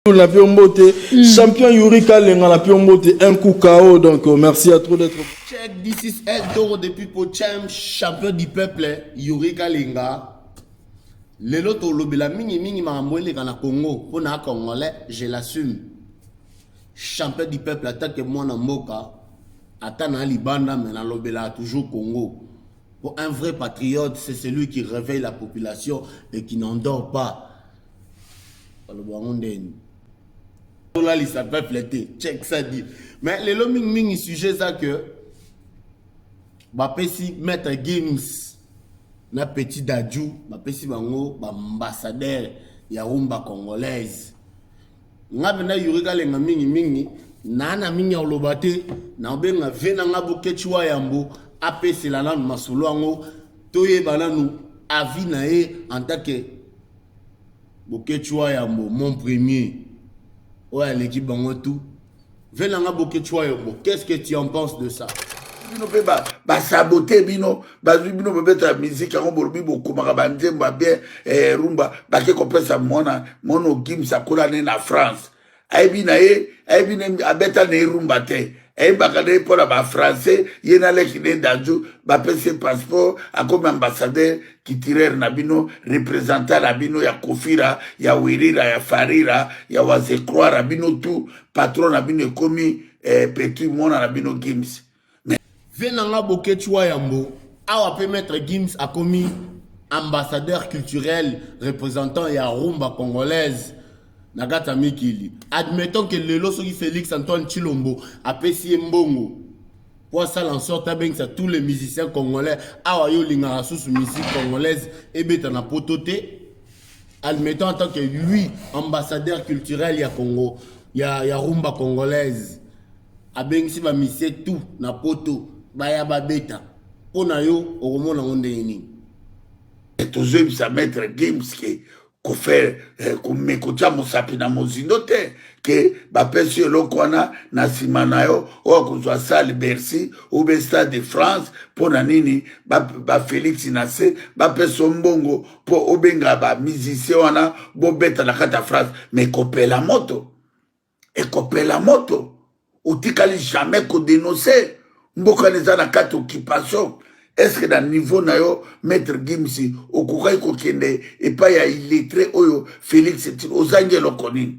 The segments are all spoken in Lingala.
Abdul na pio mbote mm. champion Yuri Kalenga na pio mbote un coup KO donc euh, merci à trop d'être Check this is El Toro depuis Pochem champion du peuple Yuri Kalenga lelo tolobela mingi mingi makambo eleka na Congo mpo na congolais je l'assume champion du peuple atake mwana mboka ata na libanda me nalobelaka toujours Congo mpo un vrai patriote c'est celui qui réveille la population et qui n'endort pas baloba yango ndeni tolalisa peuple te check ça dit mais lelo mingimingi sujet eza que bapesi maître games na petit dadju bapesi bango baambassadeur ya rumba congolaise nga mpenza yuri kalenga mingimingi naa na mingi ya koloba te naobenga ve na nga bokeci wa yambo apesela nanu masolo yango toyeba nanu avis na ye en tant que Boketshuaa yambo mon premier oyo aleki bango tout vela nga Boketshuaa yombo qu'est-ce que tu en penses de ça bino mpe basabote bino bazwi bino babeta miziki yango bolobi bokomaka banzembo ya bien eh, rumba bake kopesa mwana mono gims akola ne na france ayebi na ye ayebi ne abeta na ye rumba te ayebaka na ye mpo na bafrançais ye na leki ne danju bapesi ye passeport akomi ambassadeur culturel na bino représentant na bino ya kofira ya wirira ya farira ya wazekroira bino tout patron na bino ekomi eh, petit mwana na bino gims Mais vieux na nga Boketshu Wayambo, awa pe Maitre Gims akomi ambassadeur culturel représentant ya rumba congolaise na kati ya mikili. Admettons que lelo soki Felix Antoine Tshilombo apesi ye mbongo po asala en sorte abengisa tous les musiciens congolais, awa yo olingaka susu musique congolaise ebeta na poto te, admettons en tant que lui ambassadeur culturel ya Congo ya, ya rumba congolaise Abengisi ba musiciens tout na poto baya babeta po na yo okomona yango ndenge nini? Et tozoyebisa maitre Gims ke kofaire eh, kotia mosapi na mozindo te ke bapesi yo eloko wana na nsima na yo oyo akozwa sale bercy ube stade de france mpo na nini bafelix na se bapesa yo mbongo mpo obenga bamusicien wana bobeta na kati ya france me kopela moto ekopela moto otikali jamais kodenonse mboka neza na kati occupation eske na niveau na yo maître gimsi okokaki kokende epai ya illettré oyo félix etino ozangi eloko nini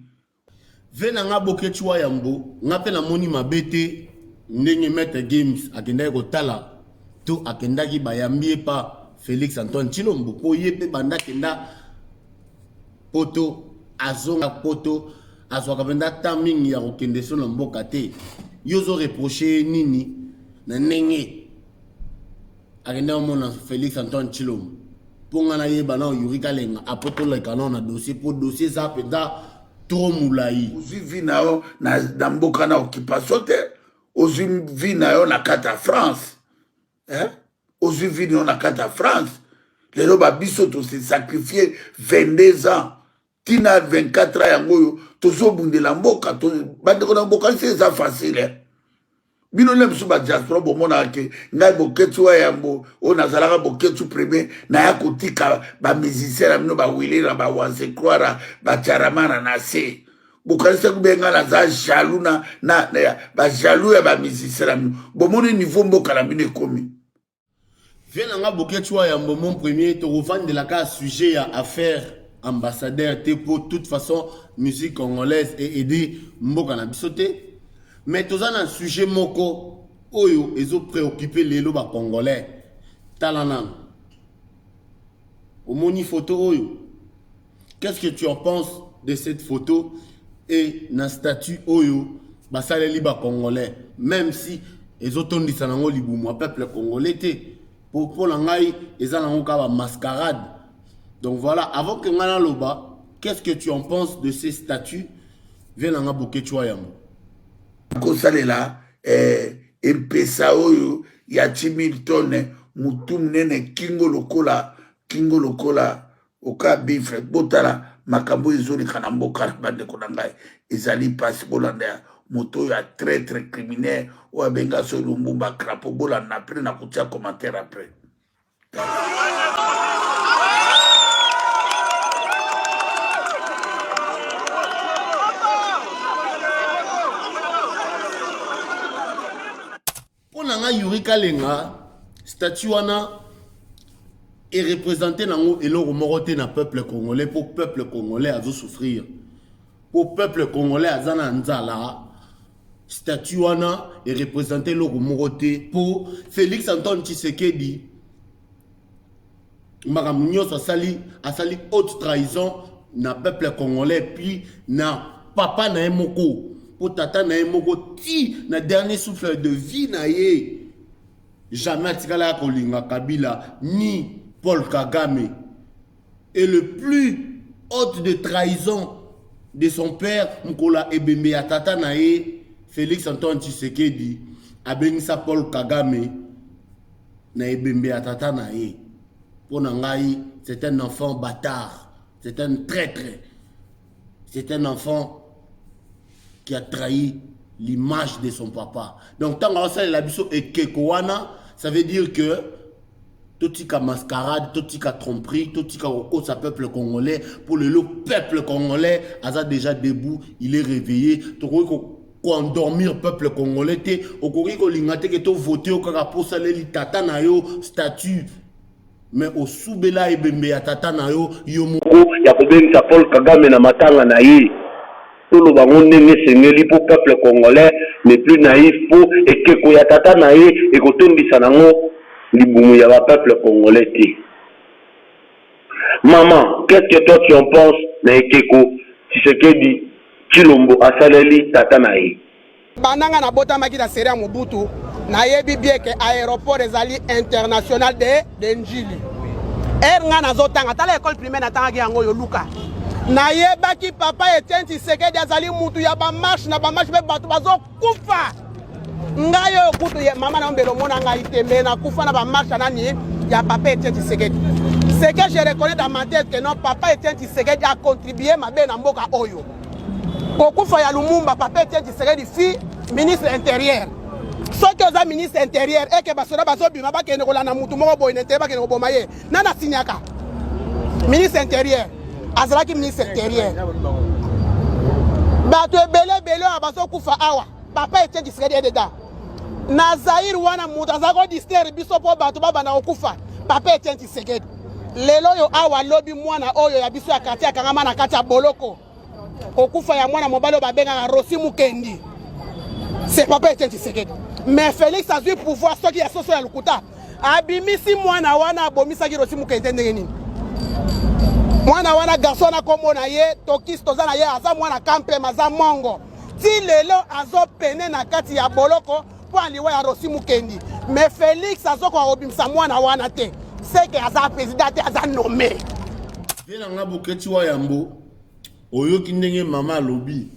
Ve na nga Boketshu wa yambo, nga mpe namoni mabe te ndenge Maitre Gims akendaki kotala to akendaki bayambi ye pa Felix Antoine Tshilombo mpo ye mpe banda akenda poto azonga poto azwaka mpenza temps mingi ya kokende so na mboka te yo ozo reproche ye nini na ndenge akende omona félix antoine tshilombo mpo ngai nayeba nao yuri kalenga apres toleka nao na dossier mpo dossier eza mpenza trop molai ozwi vi na yo na mboka na occupation te ozwi vi na yo na kati ya france eh? ozwi vini oyo na kati ya france lelo babiso tose sacrifie 22 ans tina 24 ans yango oyo tozobundela mboka to, bandeko na bokanisi eza facile eh? bino nde mosusu badiaspora bomonaka ke ngai boketsu wa yambo oyo nazalaka boketsu premier naya kotika bamusicien na bino bawilera bawansekwara bacharamana na se bokanisa kube nga naza jaloux na, na, na bajaloux ya bamusicien na bino bomoni niveau mboka na bino ekomi vie na nga boketswa ya mbomo premier tokovandelaka sujet ya affaire ambassadeur te mpo toute façon musique congolaise e aide mboka na biso te mais toza na sujet moko oyo ezo préoccupe lelo bacongolais tala nano omoni foto oyo Qu'est-ce que tu en penses de cette photo et na statut oyo basaleli ba congolais même si ezotondisa nango libumu ya peuple congolais te po mpo na ngai eza nango kaka mascarade donc voilà avant que ngai naloba qu'est-ce que tu en penses de ces statuts vie na ngai boketswa yango kosalela eh, empesa oyo ya timiltone motu monene kingo lokola kingo lokola oka bifre botala makambo oyo ezoleka na mboka na bandeko na ngai ezali mpasi bolanda ya moto oyo ya traitre criminel oyo abenga so lumbumba crapo bolanda apres na kotia commentaire apres Mpo na ngai Yuri Kalenga statut wana erepresente nango eloko moko te na peuple congolais mpo peuple congolais azosouffrir mpo peuple congolais aza na nzala statut wana erepresente eloko moko te mpo félix antoine tshisekedi makambo nyonso asali asali haute trahison na peuple congolais puis na papa na ye moko mpo tata na ye moko ti na dernier souffle de vie na ye jamais atikala ya kolinga kabila ni paul kagame et le plus haute de trahison de son père mokola ebembe ya tata na ye félix antoine tshisekedi abengi sa paul kagame na ebembe ya tata na ye mpo na ngai c'est un enfant bâtard c'est un traître c'est un enfant qui a trahi l'image de son papa donc ntango aosalela biso ekeko wana ça veut dire que totika mascarade totika tromperie totika kokosa peuple congolais mpo lelo peuple congolais aza déjà debout il est réveillé tokoki ko endormir peuple congolais te okoki kolinga te ke to vote yo kaka mpo osaleli tata na yo statut mais osubela ebembe ya tata na yo yo moko ya kobengisa paul kagame na matanga na ye toloba yango ndenge esengeli mpo peuple congolais ne plus naïf mpo ekeko ya tata na ye ekotondisa nango libumu ya ba peuple congolais te Maman qu'est ce que toi tu en pense na ekeko tshisekedi tshilombo asaleli tata na ye. Banda nga na botamaki na serie ya Mobutu na yebi bien que aeroport ezali international de de Ndjili. Heure nga nazo tanga tala ecole primaire na tangaki yango yo luka. Na yebaki papa Etienne Tshisekedi azali mutu ya ba marche na ba marche pe batu bazo kufa ngai oyo kutu ya mama na yo mbele omona ngai te me nakufa na bamarsha nani ya papa etienne tshisekedi ce que je reconnais dans ma tête que non papa etienne tshisekedi a contribué mabe na mboka oyo kokufa ya lumumba papa etienne tshisekedi fi ministre intérieur soki oza ministre intérieur eke basoda bazobima bakende kolanda motu moko boye nete bakende koboma ye nani asinyaka ministre intérieur azalaki ministre intérieur bato ebele ebele oyo bazokufa awa papa etie disredi ededa na zaire wana moto aza kodistraire biso mpo bato babanda kokufa papa etie tisekedi lelo oyo awa lobi mwana oyo ya biso ya kartier akangama na kati ya boloko kokufa ya mwana mobali oyo babengaka rosi mukendi se papa etienne tshisekedi mais félix azwi pouvoir soki ya soso ya lokuta abimisi mwana wana abomisaki rosi mukendi ndenge nini mwana wana garso wana nkombo na ye tokisi toza na ye aza mwana kampema aza mongo ti lelo azopene na kati ya boloko mpo ya liwa ya rosi mukendi mais félix azokoka kobimisa mwana wana te seke aza président te aza nommé vie na nga boketi wa yambo oyoki ndenge mama alobi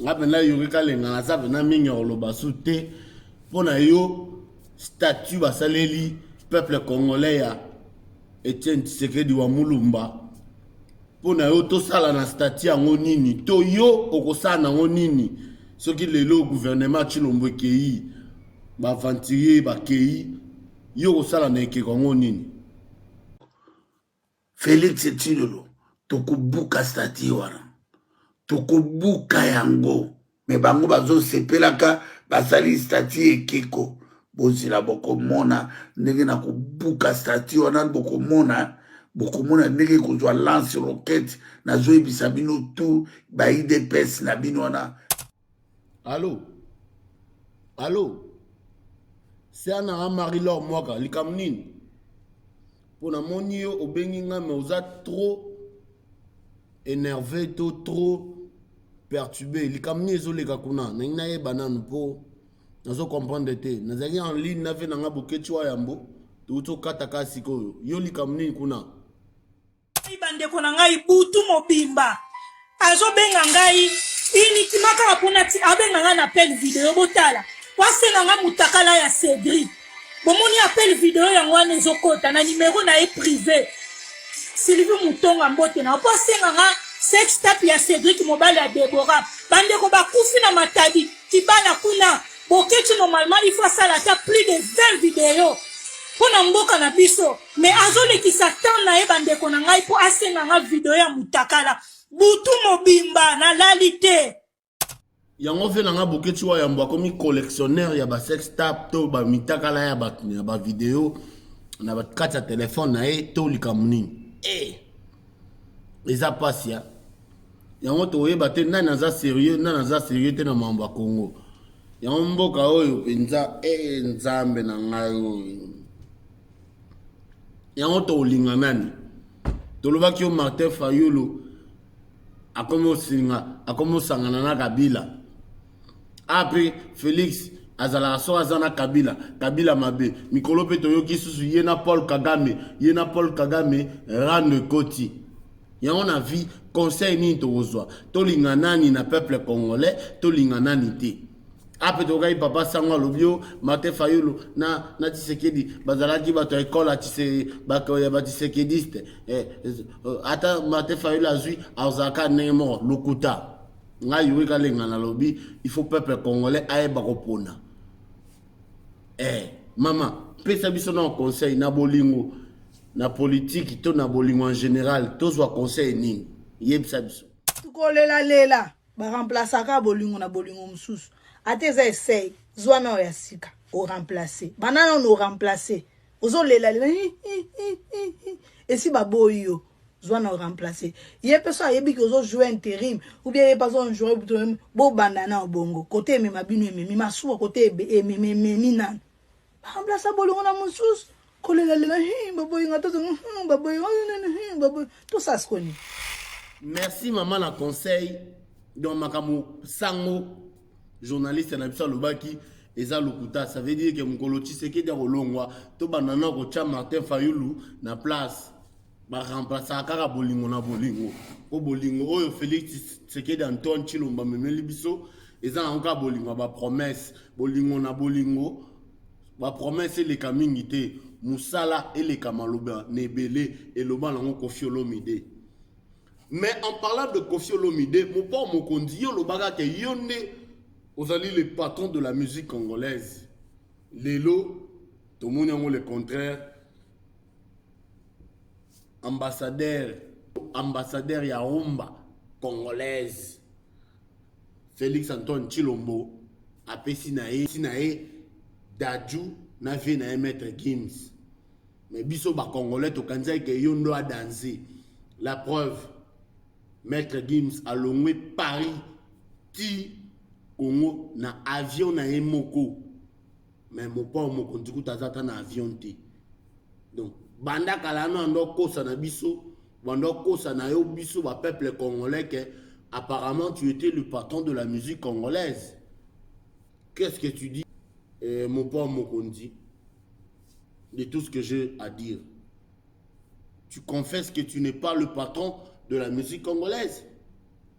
nga mpena yoki kalenga naza mpena mingi ya koloba su te mpo na yo statut basaleli peuple congolais ya etienne tshisekedi wa mulumba mpo na yo tosala na stati yango nini to yo okosala nango nini soki lelo guvernema chilombo ekei baaventurier bakei yo okosala na ekeko yango nini felix chilolo tokobuka stati wana tokobuka yango me bango bazosepelaka basali stati ekeko bozela bokomona ndenge na kobuka stati wana bokomona bokomona ndenge ekozwa lance roquette nazoyebisa bino tu baidps na bino wana alo alo siana a marie lor mwaka likambo nini po na moni yo obengi nga mais oza trop enerve to trop perturbe likambo nini ezoleka kuna nalingi nayeba nanu po nazo comprendre te nazalaki en ligne na vie na nga boketsi wa yambo touti okata ka sikoyo yo likambo nini kuna bandeko na ngai butu mobimba azobenga ngai uniquement kaka mpona ti abenga ngai na appel video botala po asenga ngai motakala ya cedri bomoni appel video yango wana ezokota na nimero na ye privé sylvie mutonga mbote na po asenga ngai sextap ya cedrik mobali ya debora bandeko bakufi na matadi kibana kuna boketi normalement il faut asala ata plus de 20 video mpo na mboka na biso me azolekisa temps na ye bandeko na ngai mpo asenga nga video ya mutakala butu mobimba nalali te yango mpe na ngai boketi wa yambo akomi collectionneur ya basex tap to bamitakala ya bato ya bavideo na kati ya telefone na ye to likambo nini e eza mpasi ya yango toyeba te nani aza serieux nani aza serieux te na mambo ya congo yango mboka oyo mpenza e nzambe na ngai oyo yango tokolinga nani tolobaki yo martin fayulu akomi osinga akomi osangana na kabila apre ah, felix azalaka so aza na kabila kabila mabe mikolo mpe toyoki susu ye na paul kagame ye na paul kagame rando ekoti yango na vie conseil nini tokozwa tolinga nani na peuple congolais tolinga nani te ape tokokaki papa sango alobi yo mate fayulu na, na tisekedi bazalaki bato ya ekole ya batisekediste eh, eh, ata mate fayulu azwi azalaka ndenge moko lokuta ngai yuri kalenga nalobi il faut peuple congolais ayeba kopona eh, mama pesa biso na conseil na bolingo na politiki to na bolingo en général tozwa conseil nini yebisa biso tukolelalela ba remplaçaka bolingo na bolingo mosusu ata eza esei zwa nao ya sika o remplace banda nano o remplace ozolela lela hi, hi, hi, hi, hi. esi baboyi yo zwa na oremplace ye mpe so ayebi ke ozojoue interim oubien ye mpe azonjoue bobanda na obongo kote emema bino ememi masuwa kote ememi nano Remplacer bolingo na mosusu kolelalela hi baboyi nga tozo hmm, baboyi oh, hmm, baboyi tosas koni merci mama na conseil donc makambo sango journaliste na biso alobaki eza lokuta ça veut dire que mokolo tshisekedi akolongwa tobanda na kotya martin fayulu na place ba remplaçaka kaka bolingo na bolingo mpo bolingo oyo félix tshisekedi antoine tshilombo amemeli biso eza nango kaka bolingo ya bapromese bolingo na bolingo bapromese eleka mingi te mosala eleka maloba na ebele eloba nango kofi olomide mais en parlant de kofi olomide mopao mokonzi yo olobaka ke yo nde ozali le patron de la musique congolaise lelo tomoni yango le contraire ambassadeur ambassadeur ya rumba congolaise Felix Antoine Chilombo apesi na ye si na ye Dadju na vie na ye maître Gims mais biso ba congolais tokanisaki ke yo ndo adanse la preuve maître Gims alongwe Paris ti Congo na avion na ye moko mais mopao mokonzi kuta aza ata na avion te donc banda kala ano anda okosa na biso banda okosa na yo biso ba peuple congolais que apparemment tu étais le patron de la musique congolaise qu'est-ce que tu dis eh, mopao mokonzi de tout ce que j'ai à dire tu confesses que tu n'es pas le patron de la musique congolaise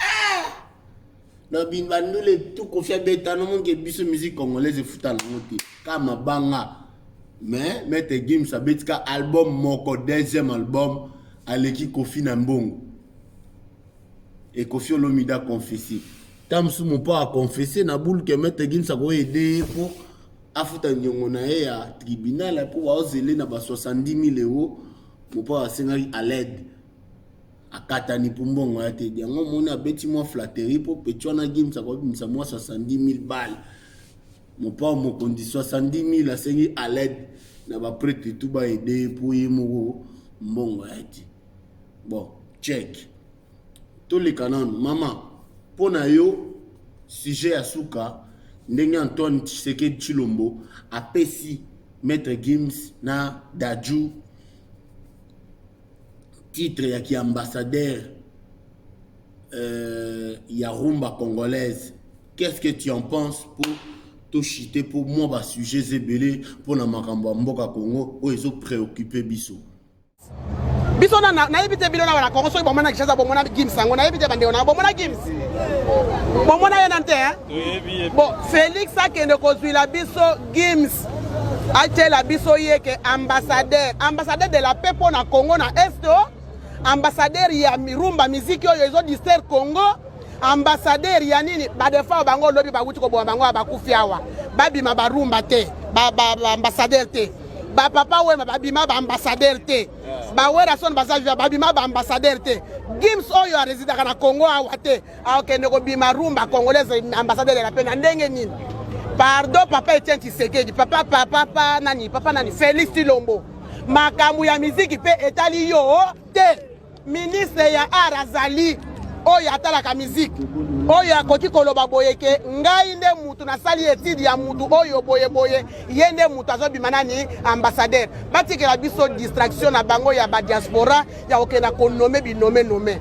ah! na bandule tu kofi abeta nomonke biso musique congolaise efuta nango te ka mabanga mais maître gims abeti ka album moko deuxième album aleki kofi na mbongo ekofi olomide aconfese ta mosusu mopo aconfese na bulu ke maître gims akoyede ye mpo afuta niongo na ye ya tribunal mpo baozele na ba 70 000 euro mopo asengaki alede Akatani po mbongo aya te. Yango omoni abeti mwa flatterie po petit wana Gims akobimisa mwa 70.000 balles. Mopao mokonzi 70.000 asengi à l'aide na ba prêtre tout ba aider ye po ye moko mbongo aya te. Bon, check. Toleka nanu mama po na yo sujet ya suka ndenge Antoine Tshisekedi Tshilombo apesi Maître Gims na Dadju titre ya ki ambassadeur euh, ya rumba congolaise qu'est-ce que tu en penses pour toshite mpo mwa basujets ebele mpo na makambo ya mboka congo oyo ezo préoccupe biso biso nayebi te bino na wana kongo soki bomona kishasa bomona gims yango nayebi te bandeko na bomona gims bomona ye nani te bo félix akende kozwila biso Gims atyela biso ye ke ambassadeur ambassadeur de la paix mpo na congo na est o oh. ambassadeur ya rumba miziki oyo ezo distraire congo ambassadeur ya nini badefa bango lobi bawuti koboma bango ya bakufi awa babima barumba te baambassadeur ba, ba te bapapa wema babima baambassadeur te bawerason baza viva babima baambassadeur te gims oyo aresidaka na congo awa te akokende ah, kobima rumba congolaise ambassadeur ya la paix na ndenge nini pardon papa etienne tshisekedi papa papa pa nani papa nani félix tilombo makambo ya miziki mpe etali yo oh, te ministre ya art azali oyo atalaka miziki oyo akoki koloba boye ke ngai nde mutu nasali etide ya mutu oyo boye boye ye nde mutu azobima nani ambassadeur batikela biso distraction na bango ya badiaspora ya kokende na konome binome nome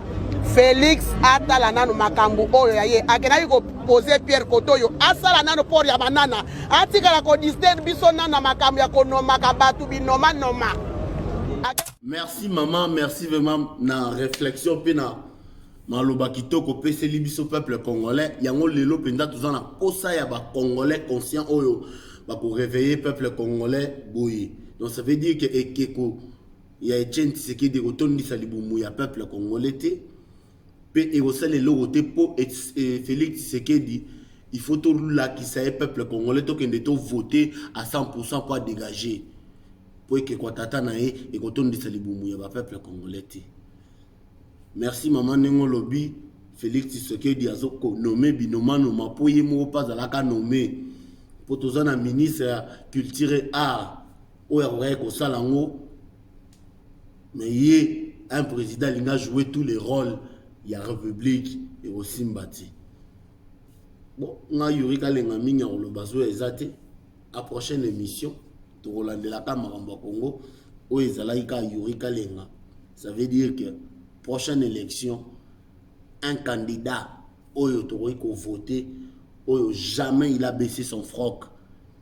felix atala nano makambo oyo ya ye akendaki kopose pierre koto oyo asala nano port ya banana atikala kodistere biso nano na makambo ya konomaka bato binomanoma merci mama merci vraiment na réflexion mpe na maloba kitoko opeseli biso peuple congolais yango lelo mpenza toza na mposa ya bacongolais conscient oyo bakoreveille peuple congolais boye donc ça veut dire que ekeko ya Etienne Tshisekedi ekotondisa libumu ya peuple congolais te mpe ekosala eloko te mpo eh, Felix Tshisekedi il faut tolakisa ye peuple congolais tokende tovote à 100% mpo adégage mpo ekekwa tata na ye ekotondisa libumu ya bapeuple congolais te merci mama ndenge olobi Felix Tshisekedi azokonome binomanoma mpo ye moko mpe azalaka nome mpo toza na ministre ya culture et art oyo akokaki kosala yango mais ye un président alingi ajoue tous les rôles ya république ekosimba te bon ngai yuri kalenga mingi ya koloba zoya eza te a prochaine émission tokolandelaka makambo ya congo oyo ezalaki kaka yuri kalenga ça veut dire que prochaine élection un candidat oyo tokoki kovote oyo jamais il a baissé son froc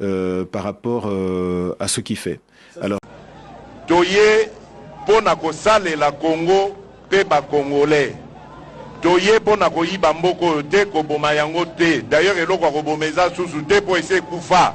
euh, par rapport euh, à ce qui fait alors toye mpo na kosalela congo mpe ba congolais toye mpo na koyiba mboka oyo te koboma yango te d'ailleurs eloko ya koboma eza susu te mpo esi ekufa